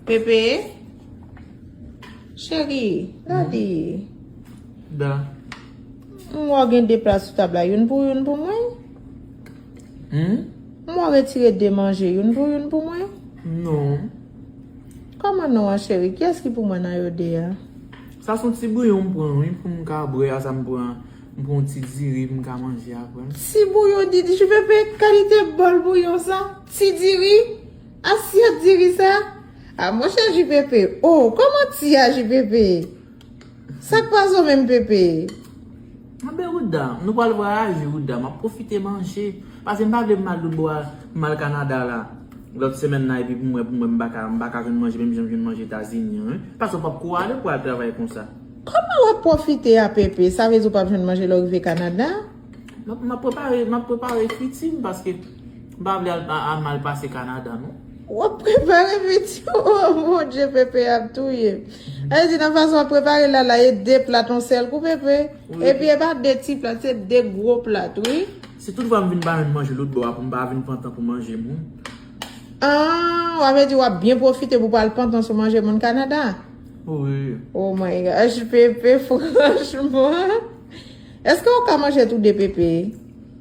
Pepe. Cheri. Dadi. Da. M wè w gen 2 plat sou tab la. Youn pou ou, youn pou mwen? Hum? M wè w retire 2 manje. Youn pou ou, youn pou mwen? Non. Kòman non an cheri? Kiyès ki pou mwen nan yo 2 a? Sa son ti bouyon m pran wi pou m ka bwè a sa m pran. M pran yon ti diri pou m ka manje apre. Ti bouyon Didi. Chou Pepe, kalite bòl bouyon sa? Ti diri? Asyèt diri sa? Ah monchè Ju Pepe oh kòman ti a Ju Pepe? Sak pa zo menm Pepe? Mwen be Rouda, nou pral vwayaje Rouda, map pwofite manje. Pase m pa vle mal doudou a mal Canada la lòt semèn nan epi pou mwen pou mwen m paka m paka jwenn manje menm jan m jwenn manje Etazini an wi. Pase w pap kou ale pou al travay konsa. Kòman wap pwofite a Pepe? Sa vle di w pap jwenn manje lè w rive Canada? Map prepare map prepare friti m paske. M pa vle al a mal pase Canada non. Wap prepare vidéo an mon Dieu Pepe ap touyem. Sa vle di nan fason wap prepare la la e 2 plat on sèl kou Pepe? Epi e pa 2 ti plat se 2 gwo plat wi. Si tout fwa m vin pa jwenn manje lotbò a pou m pa vin pantan pou manje moun. Aah wa vle di wap byen pwofite pou pa al pantan sou manje moun Canada? Wi. Oh my gosh Pepe franchman. Eske ou ka manje tou 2 Pepe?